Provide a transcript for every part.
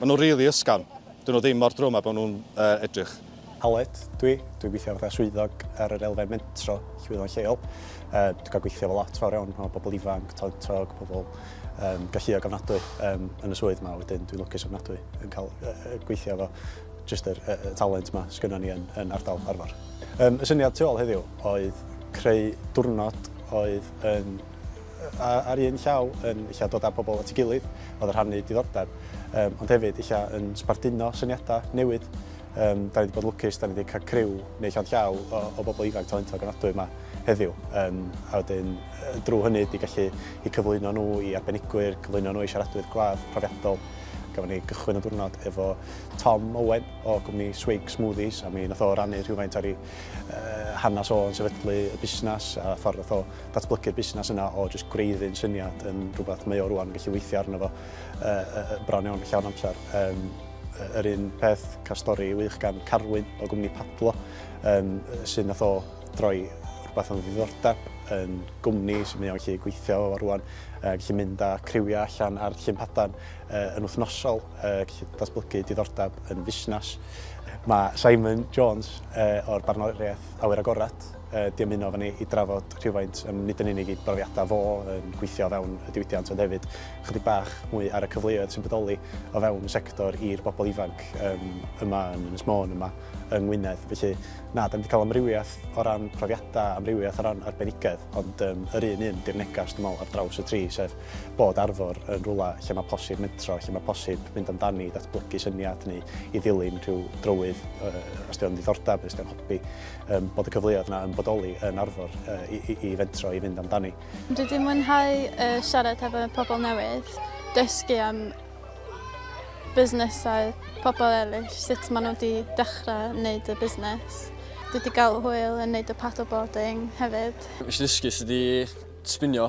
Maen nhw rili ysgafn. Dyn nhw ddim mor drwm a bod nhw'n edrych. Aled dw i. Dwi'n gweithio fatha swyddog ar yr elfen mentro llwyddon lleol. Dwi'n cael gweithio efo lot fawr iawn o bobl ifanc, talentog, pobl galluog ofnadwy yn y swydd yma. Wedyn dwi'n lwcus ofnadwy yn cael gweithio efo jyst yr talent yma sydd gynnon ni yn ardal Arfor. Y syniad tu ôl heddiw oedd creu diwrnod oedd yn a ar un llaw yn ella dod â pobl at ei gilydd, oedd yn rhannu diddordeb, um, ond hefyd ella yn sbarduno syniadau newid. Um, da ni wedi bod lwcus, da ni wedi cael criw neu llond llaw o, o bobl ifanc talentog yn adwy yma heddiw. Um, a wedyn, drwy hynny, di gallu i cyflwyno nhw i arbenigwyr, cyflwyno nhw i siaradwyr gwadd profiadol. Gafon ni gychwyn y diwrnod efo Tom Owen o gwmni Swig Smoothies a mi nath o rannu rhywfaint ar ei uh, hanes o'n sefydlu y busnes a ffordd nath o datblygu'r busnes yna o jyst gwreiddyn syniad yn rhywbeth mae o rwan yn gallu weithio arno fo uh, bron iawn llawn amser. Um, yr un peth cael stori wych gan Carwyn o gwmni Padlo um, sy'n nath o droi rhywbeth o'n ddiddordeb yn gwmni sy'n mynd o'n gallu gweithio o rwan, uh, gallu mynd â criwiau allan ar llun padan uh, yn wythnosol, uh, gallu datblygu diddordeb yn fusnes. Mae Simon Jones uh, o'r Barnoriaeth Awyr Agored di ymuno efo ni i drafod rhywfaint, yym nid yn unig ei brofiadau fo yn gweithio o fewn y diwydiant ond hefyd ychydig bach mwy ar y cyfleoedd sy'n bodoli o fewn y sector i'r bobl ifanc yym yma yn Ynys Môn, yma yng Ngwynedd. Felly na, dan ni wedi cael amrywiaeth o ran profiadau, amrywiaeth o ran arbenigedd, ond yym yr un un di'r negas dwi'n meddwl ar draws y tri, sef bod Arfor yn rhywle lle mae posib mentro, lle mae posib mynd amdani, datblygu syniad neu i ddilyn rhyw drywydd yy os 'di o'n ddiddordeb, os 'di o'n hobi. Yym, bod y cyfleoedd yna yn bodoli yn Arfor uh, i, i, i fentro i fynd amdani. Dwi wedi mwynhau uh, siarad hefo pobl newydd, dysgu am busnesau pobl eraill, sut maen nhw wedi dechrau wneud y busnes. Dwi wedi cael hwyl yn neud y paddleboarding hefyd. Nes i ddysgu sydd wedi sbinio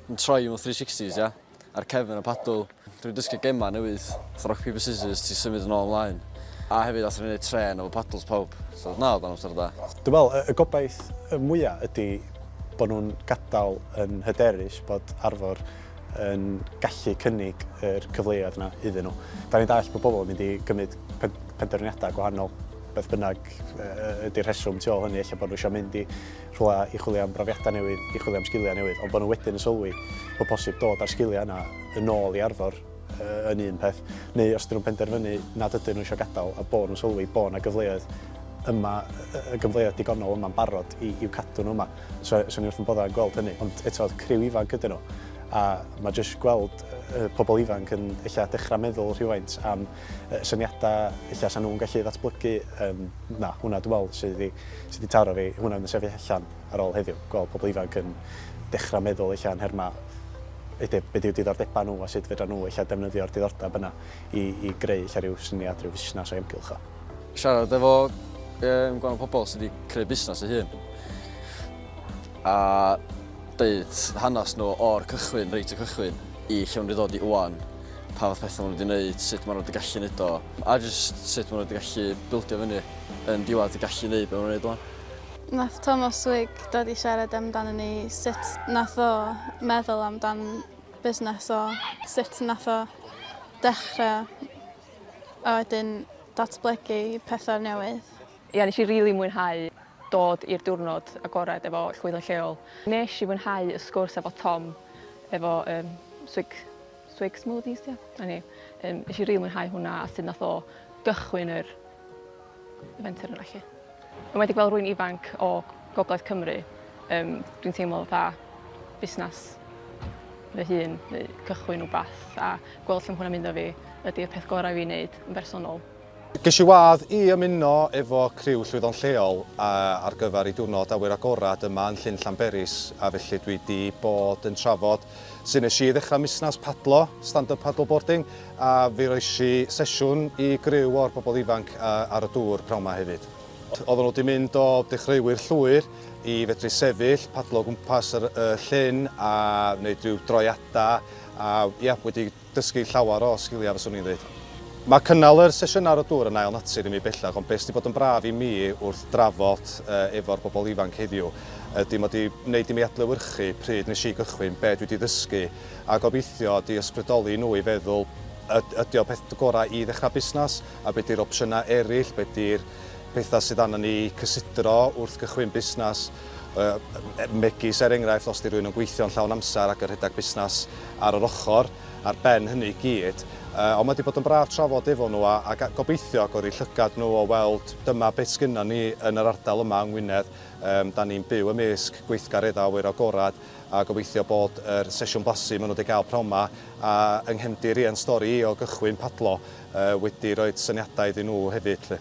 yn troi mewn 360s, ia? ar cefn y padl. Dwi'n dysgu gemau newydd, fatha rock paper scissors, ti'n symud yn ôl ymlaen. A hefyd athon ni wneud trên efo padls pawb, so na oedd o'n amser da. Dwi'n meddwl y gobaith y mwya ydi bod nhw'n gadael yn hyderus bod Arfor yn gallu cynnig yr cyfleoedd yna iddyn nhw. Da ni'n dallt bod pobl yn mynd i gymryd penderfyniadau gwahanol, beth bynnag ydi'r rheswm tu ôl hynny, ella bod nhw eisiau mynd i rhywle i chwilio am brofiadau newydd, i chwilio am sgiliau newydd, ond bod nhw wedyn yn sylwi bod posib dod â'r sgiliau yna yn ôl i Arfor yn un peth, neu os dyn nhw'n penderfynu nad ydyn nhw eisiau gadael a bod nhw'n sylwi bod yna gyfleoedd yma, y gyfleoedd digonol yma'n barod i, i'w cadw nhw yma. So, so ni wrth yn boddau yn gweld hynny, ond eto oedd criw ifanc ydyn nhw. A mae jyst gweld y pobl ifanc yn eich dechrau meddwl rhywfaint am y syniadau ella 'sa nhw'n gallu ddatblygu yym na hwnna dwi'n meddwl sydd wedi sy wedi taro fi hwnna fydd yn sefyll allan ar ôl heddiw gweld pobl ifanc yn dechrau meddwl ella yn nhermau be be dyw diddordebau nhw a sut fedra nhw ella defnyddio'r diddordeb yna i i greu ella rhyw syniad rhyw fusnes o'i amgylch o. Siarad efo um, gwahanol pobl sydd wedi creu busnes ei hun a deud hanes nhw o'r cychwyn, reit y cychwyn, i lle maen nhw wedi dod i ŵan. pa fath pethau maen nhw wedi gwneud, sut maen nhw wedi gallu gwneud o, a jyst sut maen nhw wedi gallu bildio fyny yn diwedd y gallu gwneud beth maen nhw'n gwneud o'n. Nath Tomos Wig dod i siarad amdano ni sut nath o meddwl amdan busnes o, sut nath o dechrau a wedyn datblygu pethau newydd. Ia nes i rili mwynhau dod i'r diwrnod agored efo llwyth yn lleol. Nesh i fwynhau y sgwrs efo Tom efo yym swig swig smoothies 'di o? A ni yym nesh i rili mwynhau hwnna a sud nath o gychwyn yr y fenter yna 'lly. Enwedig fel rwy'n ifanc o gogledd Cymru yym dwi'n teimlo fatha busnas fy hun neu cychwyn wbath a gweld lle ma' hwnna'n mynd a fi ydi'r peth gorau i fi neud yn bersonol. Ges i wadd i ymuno efo criw llwyddon lleol ar gyfer ei diwrnod awyr agored yma yn Llyn Llanberis a felly dwi 'di bod yn trafod sut nes i ddechrau musnes padlo, stand-up paddle boarding, a fe roes i sesiwn i griw o'r bobl ifanc ar y dŵr pnawn 'ma hefyd. Oedden nhw 'di mynd o dechreuwyr llwyr i fedru sefyll, padlo o gwmpas y llyn a wneud rhyw droiadau a ia, wedi dysgu llawer o sgiliau fyswn i'n ddeud. Mae cynnal yr sesiynau ar y dŵr yn ail natur i mi bellach ond be sydd 'di bod yn braf i mi wrth drafod efo'r bobl ifanc heddiw ydy mod i wneud i mi adlewyrchu pryd nes i gychwyn, be dwi 'di ddysgu a gobeithio 'di ysbrydoli nhw i feddwl ydy o peth gorau i ddechrau busnes a be 'di'r opsiynau eraill, be 'di'r pethau sydd arna ni i cysidro wrth gychwyn busnes. megis er enghraifft os ydy rhywun yn gweithio'n llawn amser ac yn rhedeg busnes ar yr ochr ar ben hynny i gyd. Ond mae wedi bod yn braf trafod efo nhw a, a gobeithio agor eu llygad nhw o weld dyma beth sgynnon ni yn yr ardal yma yng Ngwynedd. Um, da ni'n byw ymysg gweithgareddau awyr agorad a gobeithio bod yr sesiwn blasu maen nhw wedi cael pnawn yma a yng nghefndir i yn stori i o gychwyn padlo uh, wedi rhoi syniadau iddyn nhw hefyd. Lle.